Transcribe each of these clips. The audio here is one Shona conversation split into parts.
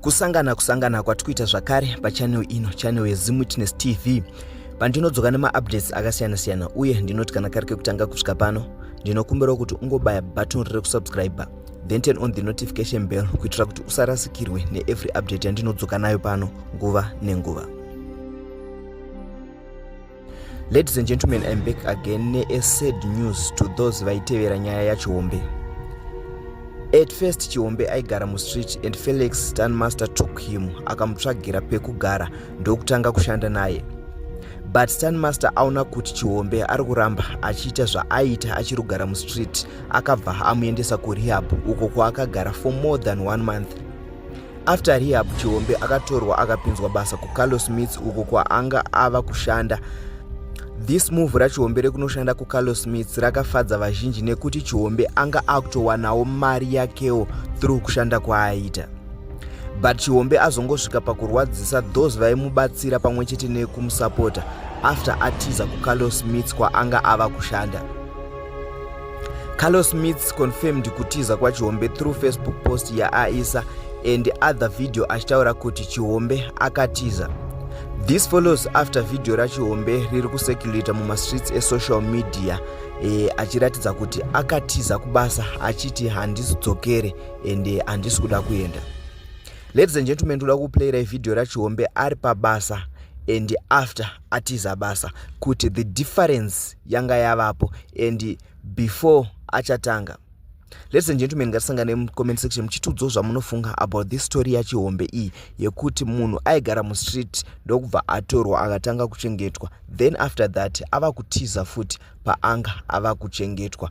kusangana kusangana kwatikuita zvakare pachanel ino chanel yezimwitness tv pandinodzoka nemaupdates akasiyana siyana uye ndinoti kana kari kekutanga kusvika pano ndinokumbirawo kuti ungobaya button rekusubscriber then turn on the notification bell kuitira kuti usarasikirwe neevery update yandinodzoka nayo pano nguva nenguva ladies and gentlemen im back again neasad news to those vaitevera nyaya yachihombe at first chihombe aigara mustreet and felix stanmaster took him akamutsvagira pekugara ndokutanga kushanda naye but stanmaster aona kuti chihombe ari kuramba achiita zvaaiita achiri kugara mustreet akabva amuendesa kurehab uko kwaakagara for more than one month After rehab, Chihombe akatorwa akapinzwa basa kuCarlos Smith uko kwaanga ava kushanda. This move raChihombe rekunoshanda kuCarlos Smith rakafadza vazhinji nekuti Chihombe anga akutowanawo mari yakewo through kushanda kwaaita. But Chihombe azongosvika pakurwadzisa those vaimubatsira pamwe chete nekumusapota after atiza kuCarlos Smith kwaanga ava kushanda. carlos smiths confirmed kutiza kwachihombe through facebook post yaaisa and other video achitaura kuti chihombe akatiza this follows after vhidhiyo rachihombe riri kuseculata mumastreets esocial media e, achiratidza kuti akatiza kubasa achiti handisi dzokere ende eh, handisi kuda kuenda ladies and gentlemen ndoda kuplayira ivhidhiyo rachihombe ari pabasa and after atiza basa kuti the difference yanga yavapo and before achatanga ladies and gentlemen ngatisangane mucomment section muchitiudzawo zvamunofunga about this story yachihombe iyi yekuti munhu aigara mustreet ndokubva atorwa akatanga kuchengetwa then after that ava kutiza futi paanga ava kuchengetwa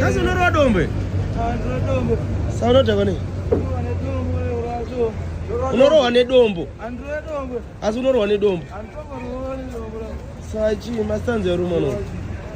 Kazi unorowa dombe? Saunotakwa nei? Unorowa nedombo? Asi unorowa nedombo? Sachi, mastanzi ya rumano.